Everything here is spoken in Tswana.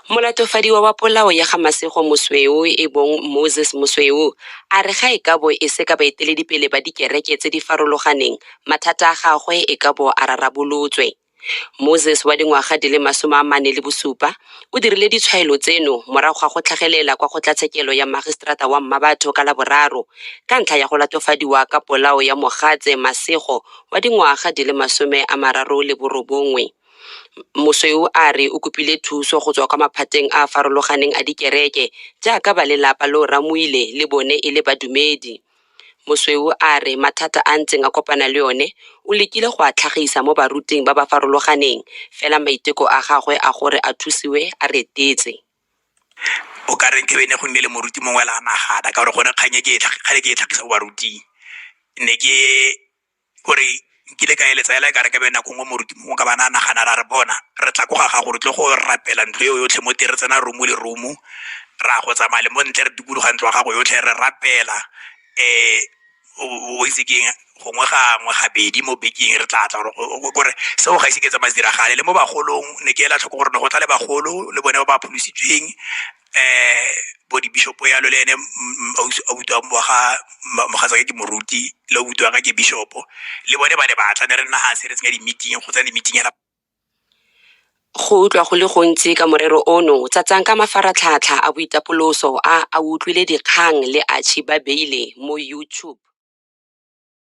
Molatofadiwa wa polao ya ga Masego Mosweu e bong Moses Mosweu a re ga e ka bo e se ka baeteledipele ba dikereke tse di farologaneng, mathata a gagwe e ka bo a rarabolotswe. Moses wa dingwaga di le masome a mane le bosupa o dirile ditshwaelo tseno morago ga go tlhagelela kwa kgotlatshekelo ya Magistrata wa Mmabatho ka Laboraro ka ntlha ya go latofadiwa ka polao ya mogatse Masego wa dingwaga di le masome a mararo le borobongwe. Mosweu a re o kopile thuso go tswa kwa maphateng a a farologaneng a dikereke jaaka ba lelapa lo Ramoile le bone e le badumedi. Mosweu a re mathata a a ntseng a kopana le one o lekile go a tlhagisa mo baruting ba ba farologaneng fela maiteko a gagwe a gore a thusiwe a retetse. O ka re nkabe ne go nnile le moruti mongwe le a nagana ka gore gone kgang e ke e tlhagisa mo baruting ne ke gore nkile ka eletsa ela e ka re ke be nako nngwe moruti mongwe ka bana a nagana ra re bona re tla ko ga gago re tle go rapela ntlo eo yotlhe mo tere tsena romo le romo ra go tsamaya le mo ntle re dikologa ntlo ya gago yotlhe re rapela um o itse keng gongwe gangwe gabedi mo bekeng re tla tla gore seo ga ise ke tsa madiragale le mo bagolong ne ke ela tlhoko gore ne go tla le bagolo le bone ba ba pholositsweng eh bo di bishop ya lo le ene autu wa ga mogatsa ke moruti le autu ka ke bishop le bone ba ne ba tla ne re nna ha se re tsenya di meeting go tsena di meeting ya go utlwa go le gontsi ka morero ono tsatsang ka mafaratlhatlha a boitapoloso a a utlwile dikgang le achi ba beile mo youtube